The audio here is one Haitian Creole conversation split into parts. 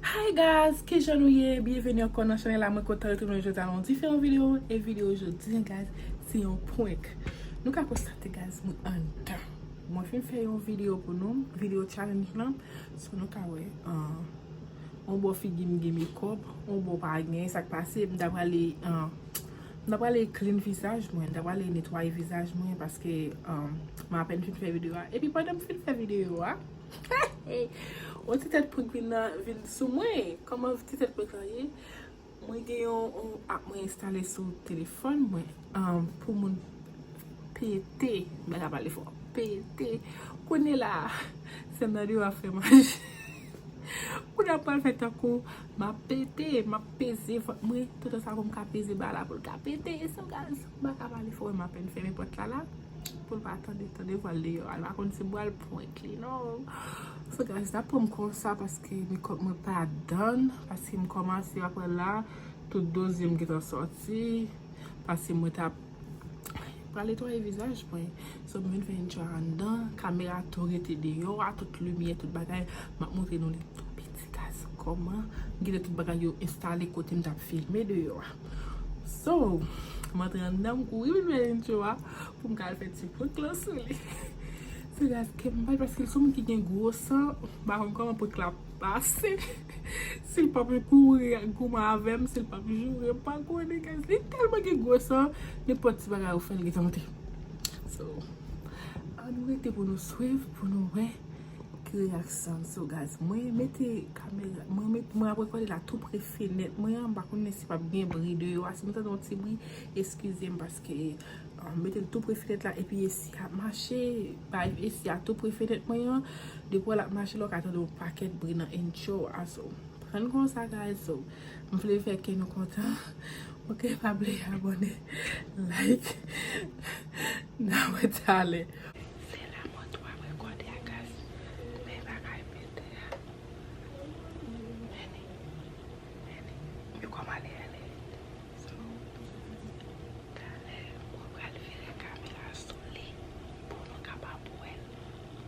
Hi guys kijan nou ye byenveni ankò nan chanèl la mwen kontan retounen jodi a nan yon diferan video e video jodi an guys se yon prank nou ka konstate guys mwen anndan mwen fin fè yon video pou nou video challenge lan so nou ka wè yon bò figi m gen mekòp yon bò pa gen sak pase m ta prale m ta prale clean vizaj mwen m ta prale netwaye vizaj mwen paske m apèn fin fè video a epi pandan m fin fè video a. Yon ti tèt prank vin nan vin sou mwen Kòman ti tèt prank lan ye Mwen gen yon app mwen enstale sou telefòn mwen Pou moun pete Mwen ka pale fò Pete Kounye la Se nan li wap fè manje Kounye la pral fè tankou Map pete Map peze vant mwen Toutan sa poum ka peze bal la poul ka pete Mwen ka pale fò Mwen apèn fèmen pòt la la Poul pa tande tande vwal deyò al pa konn si bwal prank li non so guys nap pranm konsa paske mekòp mwen pa dan paske m kòmanse aprè la tout dozim gentan sòti paske mwen tap pral netwaye vizaj mwen so m vin fè yn tjwa anndan kamera tou rete deyò a tout limyè tout bagay map montre nou li tou piti guys kòman m kite tout bagay yo enstale kotem tap filme deyò a. So, m antre anndan m kouri vin pran intro a pou m ka al fè ti prank lan sou li. Se la ke m bay paske l son moun ki gen gwo san, m pa konn kòman prank la ap pase. Si l pap kouri ak goumen avè m, si l pap joure m, m pa konnen guys. Li tèlman gen gwo san, nenpòt ti bagay ou fè l li tante. So, annou rete pou nou swiv, pou nou wè. Gri ak san sou gaz. Mwen mete kamera. Mwen mete. Mwen ap rekòde la tou pre fenèt. Mwen an pa konnen si pap gen bri de yo a. Si nou tande yon ti bri. Eskize m paske. Mwen mete l tou pre fenèt la. Epi esi a mache. Bay esi a tou pre fenèt mwen an. Depo l ap mache la w ka tande yon pakèt bri nan entcho a. So. Prann kon sa guys. So. M vle fè ke nou kontan. Ok pa bliye abone. Like. Nan wè talè. Se la mwen tou ap rekòde a gaz men bagay pete a Annie Annie you kòm ale ale so talè mwen pral vire kamera sou li pou nou kapab wèl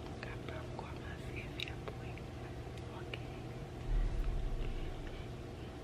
nou kapab kòmanse fè prank ok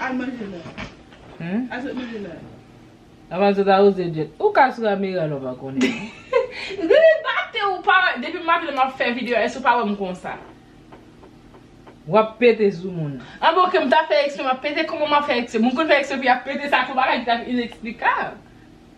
Al manje la. Aset manje la. Avan se ta oze jet. Ou ka sou kamera lò pa konnen. Riri pate ou pa wè. Depi maten map fè video èske ou pa wèm konsa. Wap pete sou moun. An bon ok m ta fè eksprè map pete kòman map fè eksprè moun konn fè eksprè pou yap pete sa son bagay ki tap ineksplikab.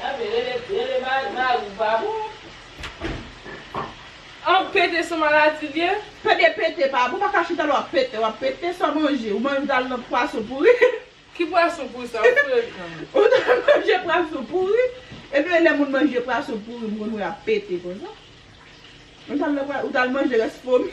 Gade rele rele mari mari w pa bon. An pete son maladi l ye. Pede pete pa bon ou paka chita la wap pete wap pete sa manje ou manje al nan pwason pouri. Ki pwason pouri sa ou frekan. Ou ta manje pwason pouri ebyen lè moun manje pwason pouri moun wè ap pete konsa. Ou tal manje rès fomi.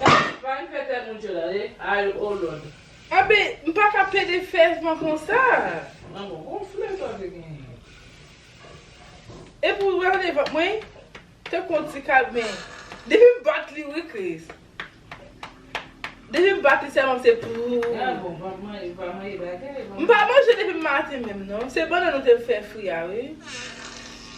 Prank prank fè tèt moun chòt ale ay o lòd. Abe m paka pede fèv mwen konsa. Lanmò gonfle sa w te genyen. Epi w gade vant mwen tankou yon ti kalbin. Depi m bat li wi Kris. Depi m bat li sèlman se pouuu. Gade bon vant mwen ou pa manje bagay. M pa manje depi m maten menm non. Se bannann ou te fè fri a wi.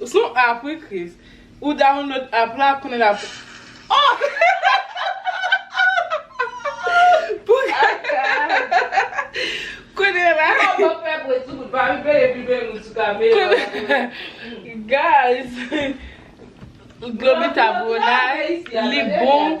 Ou son app wi Chris. Ou download app la konnen lap Konnen la Guys Globita bon la Li bon.